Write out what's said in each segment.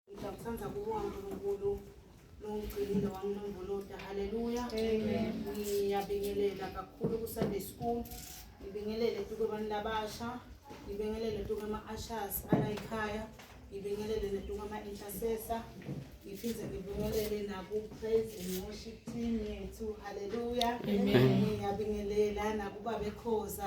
Ngiyakuthanda kubonga uNkulunkulu longigcinile wanginombolota. Haleluya. Amen. Ngiyabingelela kakhulu ku Sunday school. Ngibingelele tuke abantu labasha. Ngibingelele tuke ama ushers ala ekhaya. Ngibingelele netuke ama intercessor. Ngiphinde ngibingelele naku praise and worship team yethu. Haleluya. Amen. Ngiyabingelela nakuba bekhoza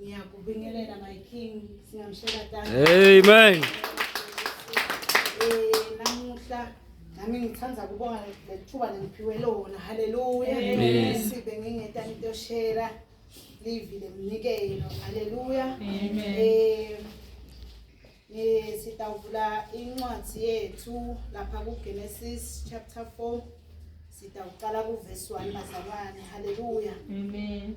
Ngiyakubingelela my king singamshela thank Amen. Eh namuhla nami ngithanda kubonga lethuba nengiphiwe lona haleluya Amen. sibe ngingeta into share livi lemnikelo haleluya Amen. eh eh sitawuvula incwadi yethu lapha ku Genesis chapter 4 sitawuqala ku verse 1 bazalwane haleluya Amen.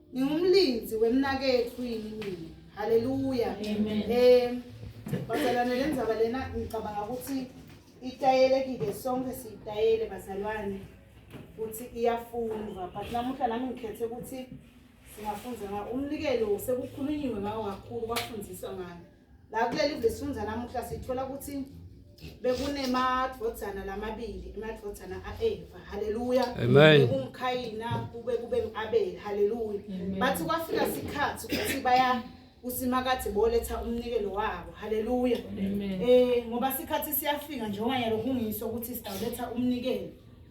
Ngingumlinzi wemnakethu yini mina. Haleluya. Amen. Eh bazalwane lenzaba lena ngicabanga ukuthi itayelekile sonke siyitayele bazalwane ukuthi iyafundwa but namuhla nami ngikhethe ukuthi singafunda ngawo umnikelo sekukhulunyiwe ngawo kakhulu kwafundiswa ngayo la kuleli vesifunza namuhla sithola ukuthi bekunemadvodzana lamabili emadvodzana a-eva haleluya bekungukhayina kube kube ngu-abeli haleluya bathi kwafika sikhathi ukuthi baya usimakade boletha umnikelo wabo haleluya um ngoba sikhathi siyafika njengoba yalo kungiso ukuthi sitawuletha umnikelo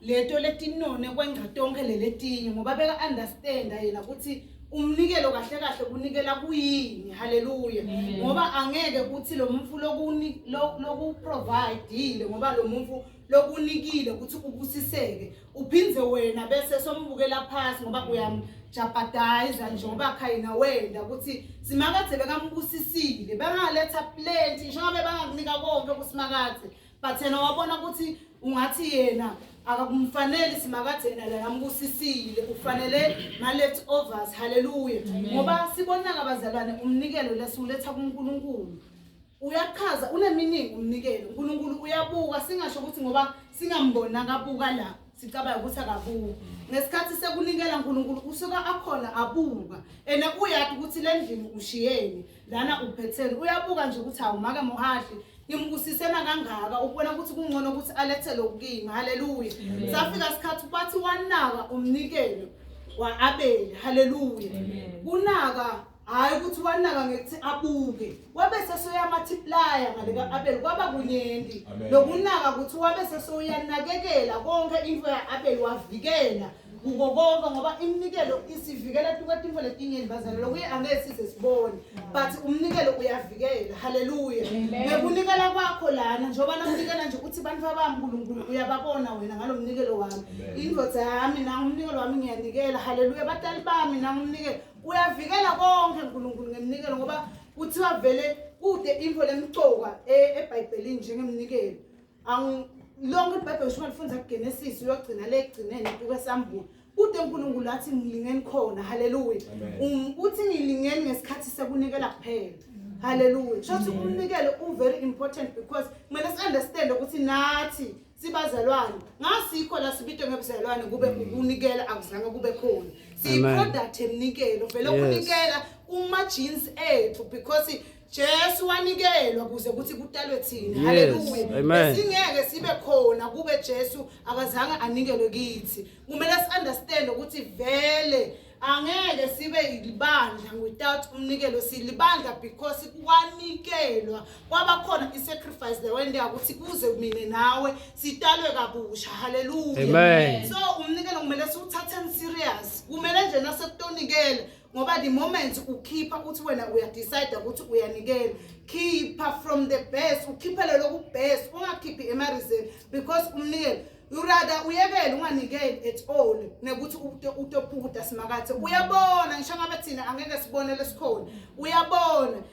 leto letinone kwengca tonkhe leletinye ngoba beka-understanda yena ukuthi umnikelo kahle kahle kunikela kuyini haleluya Amen. ngoba angeke kuthi lo mfu lokuni- lo- lokuprovidile ngoba lo mfu lokunikile ukuthi ubusiseke uphinde wena bese sombukela phasi ngoba uyamjabhadayiza nje ngoba khayina wenda ukuthi simakadze bekambusisile bangaletha plenty njengoba bangakunika konke kusimakadze but yena wabona ukuthi ungathi yena akakumfaneli simakade yena la yambusisile ufanele ma-left overs halleluya ngoba sibonaka abazalwane umnikelo lesiwuletha kunkulunkulu uyachaza uneminingi umnikelo unkulunkulu uyabuka singasho ukuthi ngoba singamboni akabuka la sicabanga ukuthi akabuka ngesikhathi sekunikela nkulunkulu usuke akhona abuka and uyati ukuthi le ndlini ushiyeni lana uphetheni uyabuka nje ukuthi awumaka muhadli ngimbusisena kangaka ukubona ukuthi kungcono ukuthi alethe lokukimi haleluya safika sikhathi bathi wanaka umnikelo wa-abeli haleluya kunaka hhayi ukuthi wanaka ngekuthi abuke wabe sesoyamatiplaya ngale ka-abeli kwaba kunyenti lokunaka ukuthi wabe sesoyanakekela konke into ya-abeli wavikela kuko konke ngoba iminikelo isivikela tukatimfo letinyeni bazalelo kuye angeke size sibone but umnikelo uyavikela haleluya ngekunikela kwakho lana njengoba nakunikela nje ukuthi bantu babami nkulunkulu uyababona wena ngalo mnikelo wami indoda yami nangumnikelo wami ngiyanikela haleluya batali bami nangumnikelo uyavikela konke nkulunkulu ngemnikelo ngoba kuthiwa vele kude info lemcoka e-, ebhayibhelini njengemnikelo Angu lonke iBhayibheli usho lifunza kuGenesis uyogcina le egcineni uke sambula. Kude uNkulunkulu athi ngilingeni khona. Haleluya. Um, Uthi ngilingeni ngesikhathi sekunikela kuphela. Haleluya. Shothi umnikelo u very important because kumele si understand ukuthi nathi sibazalwane ngasikho la sibitwe ngebuzalwane kube Mm. ukunikela akuzange kube khona siyi Amen. product emnikelo vele Yes. ukunikela kuma jeans ethu because Jesu wanikelwa kuze kuthi kutalwe thina. Yes, Haleluya. amen. Singeke sibe khona kube Jesu akazange anikelwe kithi. Kumele si understand ukuthi vele angeke sibe yilibandla without umnikelo silibandla because kwanikelwa kwaba khona i-sacrifice lewendeka ukuthi kuze mina nawe sitalwe kabusha haleluya Amen. so umnikelo kumele siwuthatheni serious kumele nje nasekutonikela ngoba the moment ukhipha uthi wena uyadecide ukuthi uyanikela khipha from the best ukhiphele lokubest ungakhiphi emarizeni because umnikele urada uyekele unganikeli at all nekuthi utopukuda simakathe uyabona ngisho ngabe thina angeke sibone lesikhona uyabona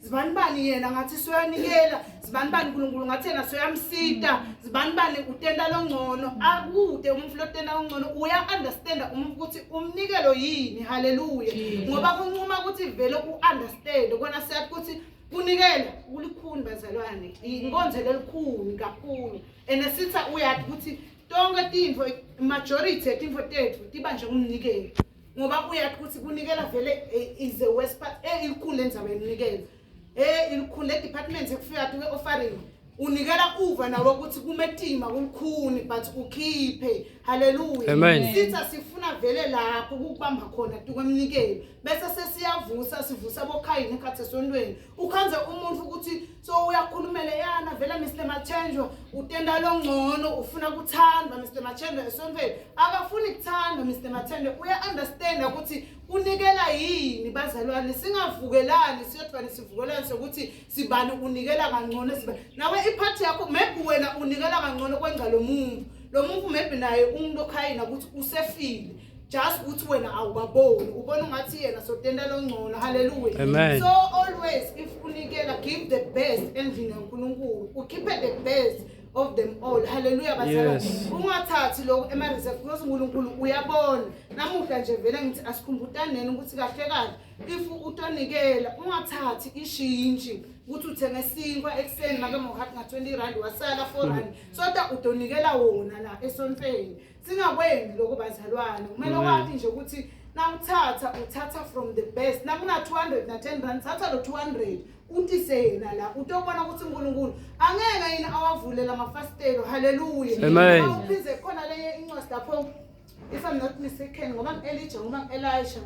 zibani bani yena ngathi soyanikela zibani bani uNkulunkulu ngathi yena soyamsita zibani bani utenda longcono akude umuntu lotenda longcono uya understand umuntu ukuthi umnikelo yini haleluya ngoba kunquma ukuthi vele u understand kona siyathi ukuthi kunikela kulikhuni bazalwane inkonzo lelikhuni kakhulu and sitha uyathi ukuthi tonke tintfo majority yetinfo tethu tiba njengomnikelo ngoba kuyathi ukuthi kunikela vele eh, is the worst part eh ilikhulu lenzaba eninikela eh ilikhulu le department ekufika athi ke offering unikela uva nawe ukuthi kumetima kulikhuni but ukhiphe haleluya Amen. sitha sifuna vele lapho ukubamba khona tukwemnikeli bese sesiyavusa sivusa bokhayini ekhathi esontweni ukhanze umuntu ukuthi so uyakhulumela yana vele Mr Machenjwa utenda longcono ufuna kuthandwa Mr Machenjwa esontweni akafuni kuthandwa Mr Machenjwa uya understand ukuthi unikela yini bazalwane singavukelani siyodvani sivukelani sokuthi sibani unikela kangcono siba nawe iphathi yakho maybe wena unikela kangcono kwenza lo muntu lo muntu maybe naye umuntu okhayina ukuthi usefile just ukuthi wena awubaboni ubona ungathi yena sotenda longcono haleluya Amen. so always if unikela give the best endlini yankulunkulu ukhiphe the best of them all haleluya bazalwane Yes. ungathathi lokho ema-reserve because unkulunkulu uyabona namuhla nje vele ngithi asikhumbutaneni ukuthi kahle kahle if utonikela ungathathi ishintshi ukuthi uthenge isinkwa ekuseni make mohati nga-20 rand wasala 4 rand soda utonikela wona la esontweni singakwenzi lokho bazalwane kumele Amen. wathi nje ukuthi nawuthatha uthatha from the best nakuna-200 na-10 rand thatha lo 200 utise yena la utobona ukuthi unkulunkulu angeke yini awavulela amafasitelo haleluya Amen. awuphinde khona lenye incwadi lapho if i'm not mistaken ngoba ngi-elija ngoba ngi-elisha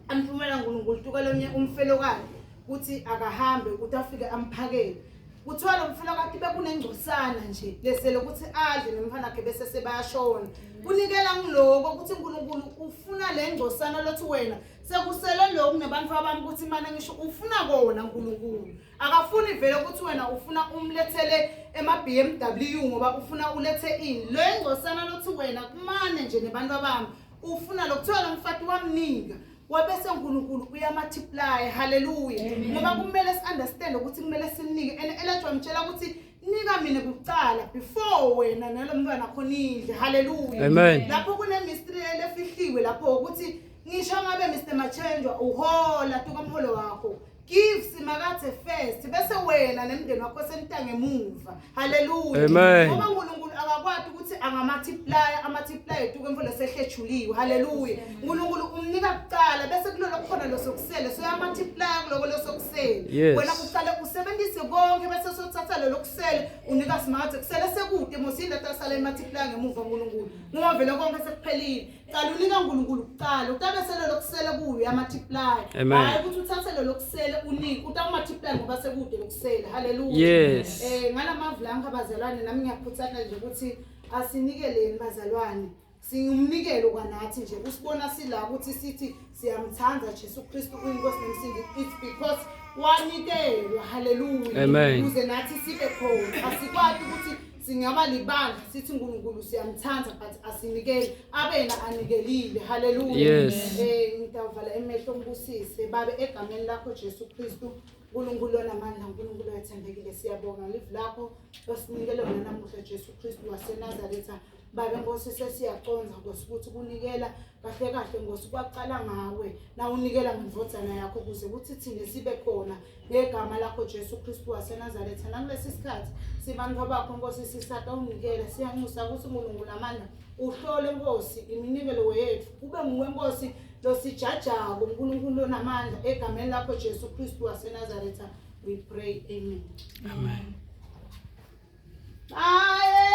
amphumela nkulunkulu tukalomnye umfelokakhe ukuthi akahambe ukuthi afike amphakele kuthiwa lo mfula kade bekunengcosana nje lesele ukuthi adle nomfana wakhe bese sebayashona kunikela ngiloko ukuthi uNkulunkulu ufuna le ngcosana lothi wena sekusele lokhu nebantu abami ukuthi imane ngisho ufuna kona uNkulunkulu akafuni vele ukuthi wena ufuna umlethele ema-BMW ngoba ufuna ulethe ini le ngcosana lothi wena kumane nje nebantu abami ufuna lokuthiwa lo mfati wamnika wabese uNkulunkulu uyamultiply haleluya ngoba kumele si-understand ukuthi kumele simnike and elethu wamtshela ukuthi nika mina kucala before wena nalo mntwana khona indle haleluya lapho kunemistry elefihliwe lapho ukuthi ngisho ngabe Mr Machenjwa uhola tuka mholo wakho Give simakade first bese wena nemndeni wakho senitange emuva. Hallelujah. Amen. Ngoba uNkulunkulu akakwati ukuthi angamatiplaya amatiplaya etuke mfolo sehlejuliwe. Hallelujah. uNkulunkulu umnika kuqala bese kulolo khona losokusele soyamatiplaya kuloko losokusele. Yes. Wena uqale usebenzise konke bese sothatha lelo kusele unika simakade kusele sekude mosini lata sale matiplaya ngemuva uNkulunkulu. Ngoba vele konke sekuphelile. Cala unika uNkulunkulu kuqala utabesele lokusele kuyo amathiplay. Hayi ukuthi uthathe lo lokusele unike utawumathiplay ngoba sekude lokusele. Hallelujah. Yes. Eh ngalamavulanga abazalwane nami ngiyakhuthana nje ukuthi asinikeleni bazalwane. Singumnikelo kwanathi nje usibona sila ukuthi sithi siyamthanda Jesu Kristu uyinkosi nemsindi it's because wanikelwa hallelujah. Amen. Uze nathi sibe khona asikwazi ukuthi singaba libandla sithi uNkulunkulu siyamthanda but asinikeli abena anikelile haleluya Yes. eh ngidawuvala emehlo ngibusise babe egameni lakho Jesu Kristu uNkulunkulu onamandla uNkulunkulu wethembekile siyabonga live lakho losinikele wena namuhla Jesu Kristu waseNazaretha babe nkosi sesiyaconza nkosi ukuthi kunikela kahle kahle nkosi kwaqala ngawe na unikela ngemvodzana yakho kuze kuthi thina sibe khona ngegama lakho Jesu Kristu waseNazaretha nakulesi sikhathi sibantu abakho Nkosi sisata unikele siyanxusa ukuthi uNkulunkulu namandla uhlole Nkosi iminikelo wethu kube nguwe Nkosi losijajako uNkulunkulu onamandla egameni lakho Jesu Kristu waseNazaretha we pray amen amen Aye